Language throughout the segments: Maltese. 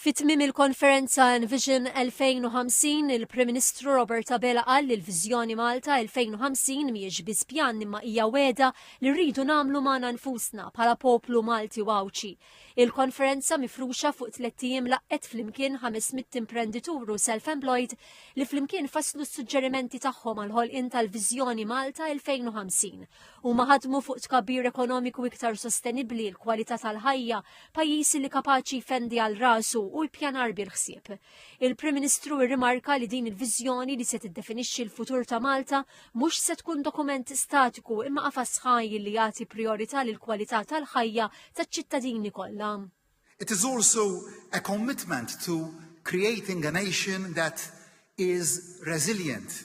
Fi tmiem il-konferenza Envision 2050, il-Prim Ministru Robert Abela qal li l-Viżjoni Malta 2050 mhijiex biss pjan imma hija wegħda li rridu nagħmlu magħna nfusna bħala poplu Malti u Għawdxi. Il-konferenza mifruxa fuq tliet ijiem laqqgħet flimkien 500 imprenditur u self-employed li flimkien fasslu s-suġġerimenti tagħhom għall-ħolqien tal-Viżjoni Malta 2050 Huma ħadmu fuq tkabbir ekonomiku iktar sostenibbli, l-kwalità tal-ħajja, pajjiż li kapaċi jfendi għal rasu u l-pjanar bil-ħsieb. Il-Prim Ministru rrimarka li din il-viżjoni li se tiddefinixxi l-futur ta' Malta mhux se tkun dokument statiku imma qafas ħaj li jagħti priorità lil kwalità tal-ħajja taċ-ċittadini kollha. It is also a commitment to creating a nation that is resilient,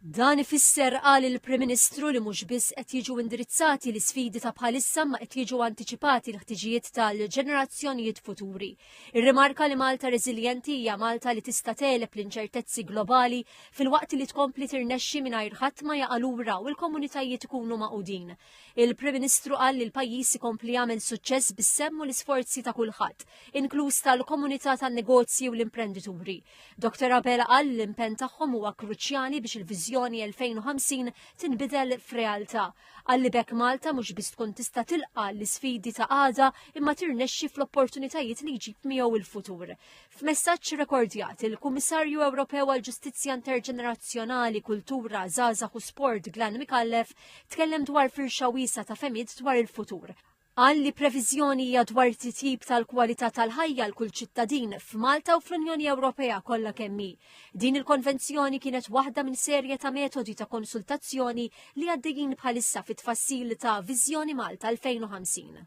Dan ifisser, qal il-Prim Ministru, li mhux biss qed jiġu indirizzati l-isfidi ta' bħalissa imma qed jiġu antiċipati l-ħtiġijiet tal-ġenerazzjonijiet futuri. Irrimarka li Malta reżiljenti hija Malta li tista' tegħleb l-inċertezzi globali filwaqt li tkompli tirnexxi mingħajr ħadd ma jaqa' lura u l-komunitajiet ikunu magħqudin. Il-Prim Ministru qal li l-pajjiż ikompli jagħmel suċċess bis-sehem u l-isforzi ta' kulħadd, inkluż tal-komunità tan-negozji u l-imprendituri. Dr Abela qal li l-impenn tagħhom huwa kruċjali biex il-Viżjoni 2050 tinbidel f'realtà. Qal li b'hekk Malta mhux biss tkun tista' tilqa' l-isfidi ta' għada imma tirnexxi fl-opportunitajiet li jġib miegħu il-futur. F'messaġġ rekordjat, il-Kummissarju Ewropew għall-Ġustizzja Interġenerazzjonali, Kultura, Żgħażagħ u Sport Glan Micallef tkellem dwar firxa wiesa' ta' femiet dwar il-futur. Qal li previżjoni hija dwar titjib tal-kwalità tal-ħajja għal kull ċittadin f'Malta u fl-Unjoni Ewropea kollha kemm hi. Din il-konvenzjoni kienet waħda minn serje ta' metodi ta' konsultazzjoni li għaddejjin bħalissa fit-tfassil ta' Viżjoni Malta 2050.